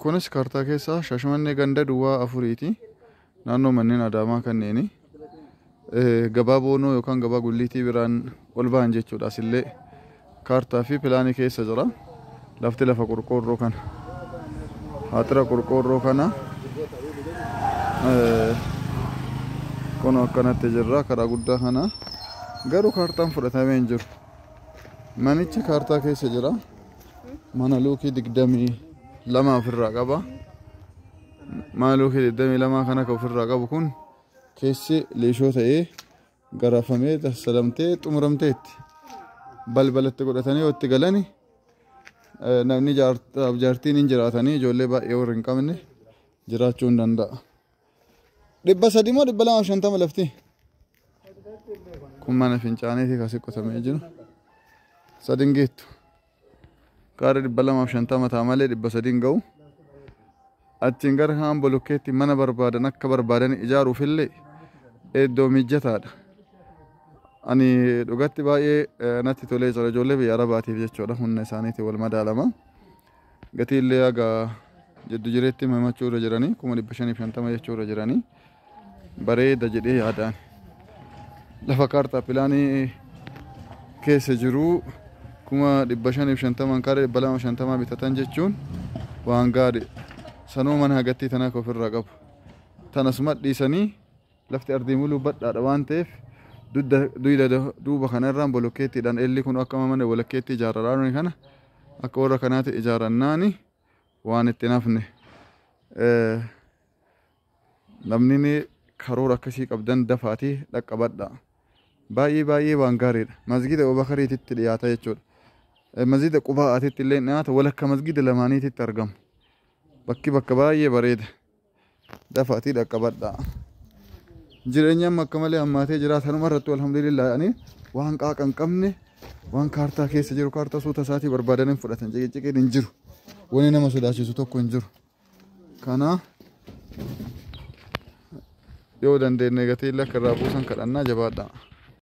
Kunis kaartaa keessaa Shaashmannee ganda duwwaa afuriiti. Naannoo manneen Adaamaa kanneeni. Gabaa Boonoo yookaan gabaa Gulliitii biraan ol ba'an jechuudha. Asillee kaartaa fi pilaanii keessa jira. Lafti lafa qorqoorroo kana. Haaxira qorqoorroo kana. Kun akkanatti jirra karaa guddaa kana. Garuu kaartaan fudhatamee hin jiru. Manichi kaartaa keessa jira. mana luukii digdamii lama ofirraa qaba mana luukii digdamii lama kan akka ofirraa qabu kun keessi liishoo ta'ee garafamee tassalamtee xumuramteetti balbalatti godhatanii yoo itti galani eh, namni jaartaaf jaartiin hin jiraatanii ijoollee baay'ee warri hin qabne jiraachuu hin danda'a. Dhibba sadii moo dhibba lamaaf shantama lafti? Kun mana fincaanii fi kasi qotamee jiru. Sadin geettu. Gaara dhibba lamaaf shantama ta'a malee dhibba sadiin ga'u. Achiin gara kaan bolokkeetti mana barbaadan akka barbaadan ijaaruuf illee iddoo mijataadha. Ani dhugatti baay'ee natti tolee jira ijoollee biyya arabaatiif jechuudha humna isaaniitiin wal madaalama. Gatii illee haga jiddu jireetti himachuu irra jiranii kuma dhibba shanii fi shantama jechuu irra jiranii bareeda jedhee yaadaan lafa kaartaa pilaanii keessa jiruu kuma dhibba shanii fi shantamaan kaaree dhibba lama shantamaa bitatan jechuun waan gaari sanuu mana hagattii tanaa ka ofirraa qabu tanas madhiisanii Lafti ardii muluu badhaadha waan ta'eef dudda duyda duuba kana irraan bolokkeettiidhaan eelli kun akka mana bolokkeettii ijaarradhaa nuyi kana akka warra kanaatti ijaarannaani waan itti nafne namni karoora akkasii qabdan dafaatii dhaqqabadhaa. Baay'ee baay'ee waan gaariidha. Masgiida Obakariititti dhiyaata jechuudha. Masgiida Qubaa'aatitti illee dhiyaata walakka masgiida lamaaniititti argama. Bakki bakka baay'ee bareeda. dafaatii dhaqqabadhaa. Jireenyi amma akka malee hammaatee jira. Sanuma irratti alhamdulillah ani waan qaaqa hin qabne waan kaartaa keessa jiru kaartaa suuta isaatii barbaadan hin fudhatan ciqiciqiin hin jiru. Wani nama sodaachisu tokko hin jiru. Kana yoo dandeenye gatii lakka irraa buusan kadhannaa jabaadhaa.